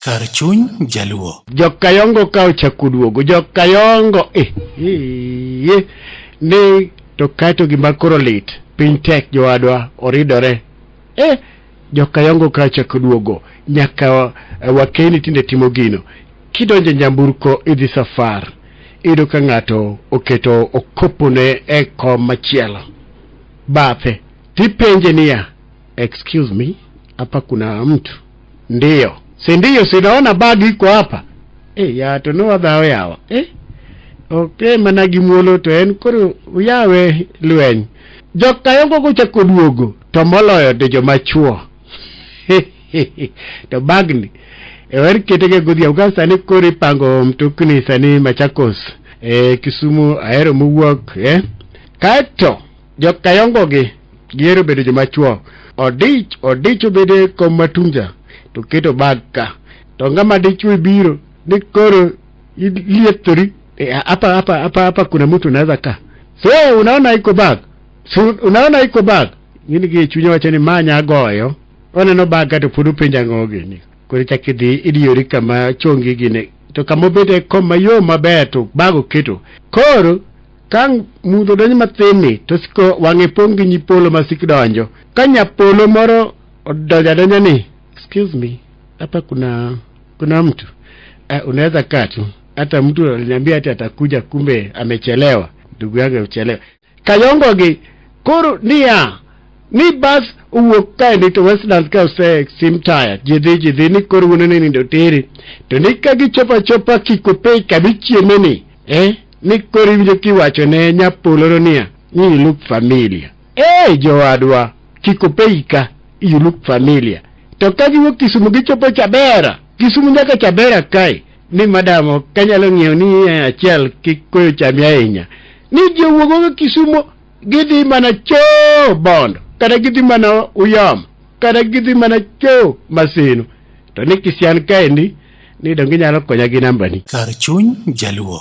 Kar chuny jaluo. Jokayongo ka ochakuduogo jokayongo eh, eh, eh, ni to kaeto gima koro lit piny tek jowadwa oridore eh, jokayongo ka ochakuduogo nyaka eh, wakeni tinde timo gino kidonje nyamburko idhi safar iyudo ka ng'ato oketo okopone e kom machielo bathe tipenje niya Excuse me, hapa kuna mtu. Ndiyo, si ndiyo, sinaona bagi iko hapa. Eh, ya to no other way awa. Eh? Okay, mana gi muolo to en koro uyawe lweny. Jok kayongo gochako duogo to moloyo to joma chuo. to bagni ewer ketege godhiambo ka sani koro ipango mtokni sani Machakos eh, Kisumu ahero mowuok eh. Kaeto Jokayongo gi gihero bedo joma chwo. Odich odich obedo e kom matunja to keto bag ka. To ng'ama dichwo biro ni koro iliethori e, hapa hapa hapa hapa kuna mtu anaweza ka. So unaona iko bag. So unaona iko bag. Ngini gi chunya wacho ni manya goyo. Oneno bag ka to pod openja ng'o gini. Koro chak idhi idiyori kama chongi gine to kama obede kom mayom maber to bag oketo. Koro Ka mudho donjo mathinni to siko wang'e pong' gi nyipolo ma sik donjo. Ka nyapolo moro odonjo adonja ni, excuse me, hapa kuna kuna mtu uh, unaweza kaa tu. Hata mtu aliniambia ati atakuja, kumbe amechelewa. Ndugu yangu amechelewa. Kayongo gi koro niya ni bas owuok kae ni to Westlands ka ose sim taya jidhi jidhi ni koro wuonene ni doteri to ni ka gichopa chopa kikopei kamichiemeni eh mi koro iwinjo kiwacho ne nyapoloro niya ni you look familia ee jowadwa kik opeika you look familia to ka giwuok kisumu gichopo chabera kisumu nyaka chabera kae ni madamo kanyalo ng'iewo ni achiel kik koyo chami ahinya ni ji owuogogo kisumo gidhi mana choo bondo kata gidhi mana uyom kata gidhi mana choo masino to ni kisian kaendi ni donge inyalo konya gi nambani Kar chuny Jaluo.